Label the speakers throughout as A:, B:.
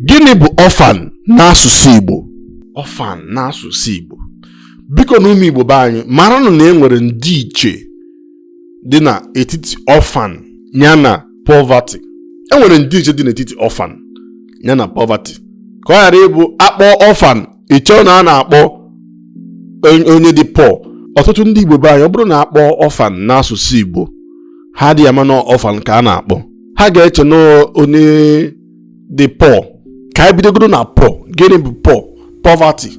A: gịnị bụ orphan n'asụsụ Igbo orphan n'asụsụ Igbo bikonụ ụmụ Igbo be anyị maranụ na e nwere ndịiche dị n'etiti orphan ya na poverty e nwere ndịiche dị n'etiti orphan ya na poverty ka ọ ghara ịbụ a kpọọ orphan i chee na a na-akpọ onye dị poor ọtụtụ ndị Igbo be anyị ọ bụrụ na a kpọọ orphan n'asụsụ Igbo ha adịghị ama na orphan ka a na-akpọ ha ga-eche na onye dị poor ka anyị bidogodu na poor gịnị bụ poor poverty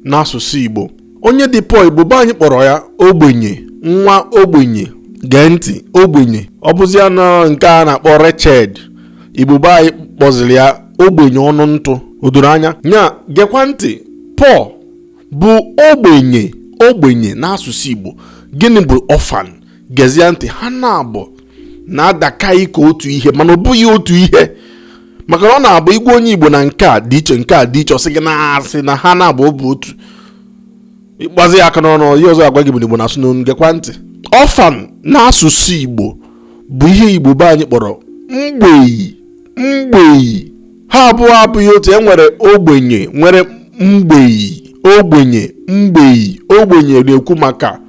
A: n'asụsụ Igbo onye dị poor Igbo be anyị kpọrọ ya ogbenye nwa ogbenye gee ntị ogbenye ọ bụzịa na ọ nke a na-akpọ wretched Igbo be anyị kpọziri ya ogbenye ọnụ ntụ o doro anya nya gekwa ntị poor bụ ogbenye ogbenye n'asụsụ Igbo gịnị bụ orphan gezie ntị ha naabọ na-adakarị ka otu ihe mana ọ bụghị otu ihe maka na ọ na-abụ ị gwa onye igbo na nke a dị iche nke a dị iche ọ sị gị na asị na ha naabọ bụ otu ị gbazie ya aka n'ọnụ ihe ọzọ a gwa gị bụ na igbo na-asụ n'onu gekwa ntị orphan n'asụsụ igbo bụ ihe igbo be anyị kpọrọ mgbei mgbei ha abụọ abụghị otu e nwere ogbenye nwere mgbei ogbenye mgbei ogbenye na-ekwu maka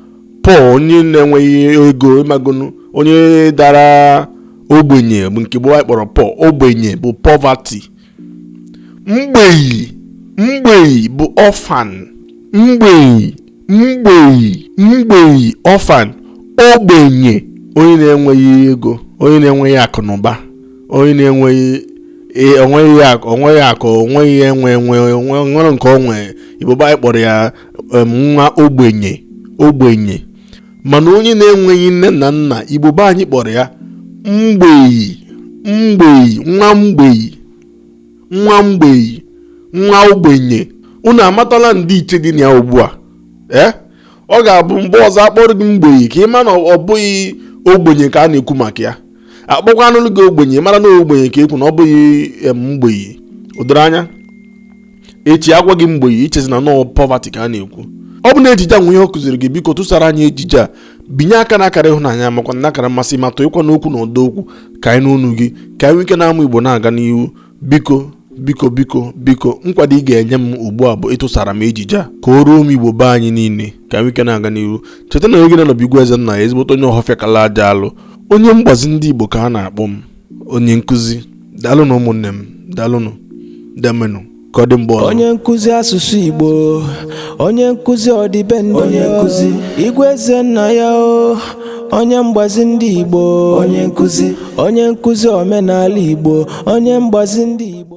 A: poor onye na-enweghị ego ị magonu onye dara ogbenye bụ nke igbo be anyị kpọrọ poor ogbenye bụ poverty mgbei mgbei bụ orphan mgbei mgbei mgbei orphan ogbenye onye na-enweghị ego onye na-enweghị akụ na ụba onye na-enweghị e- o nweghị akụ o nweghị akụ o nweghị enwe enwe o nwe- o nwere nke o nwe igbo be anyị kpọrọ ya nwa ogbenye ogbenye mana onye na-enweghị nne na nna igbo be anyị kpọrọ ya mgbei mgbei nwa mgbei nwa mgbei nwa ogbenye unu amatala ndịiche dị na ya ugbu a ee ọ ga-abụ mgbe ọzọ a kpọrọ gị mgbei ka ị ma na ọ bụghị ogbenye ka a na-ekwu maka ya a kpọkwanụlụ gị ogbenye mara na ogbenye ka e kwu na ọ bụghị mgbei o doro anya echi a gwa gị mgbei i chezie na ọ poverty ka a na-ekwu ọ bụ na ejije a nwe ihe ọ kụziri gị biko tụsara anyị ejije a binye aka na akara ịhụnanya makwa na akara mmasị ma tụọkwanụ okwu na ụdọ okwu ka anyị nụ onu gị ka anyị nwee ike na-amụ igbo na-aga n'ihu biko biko biko biko nkwado ị ga-enye m ugbu a bụ ịtụsara m ejije a ka o ruo ụmụ igbo be anyị niile ka anyị nwee ike na-aga n'ihu cheta na oge na-anọbụ igwe ezennaya ezigbote onye ọhọfịa kala aja alụ onye mgbazi ndị igbo ka a na-akpọ m onye nkụzi daalụnụ ụmụnne m daalụnụ demenụ ka ọ dị mgbe ọzọ onye nkụzi asụsụ igbo onye nkụzi ọdịbendị onye nkụzi igwe eze nna ya o onye mgbazi ndị igbo onye nkụzi omenala igbo onye mgbazi ndị igbo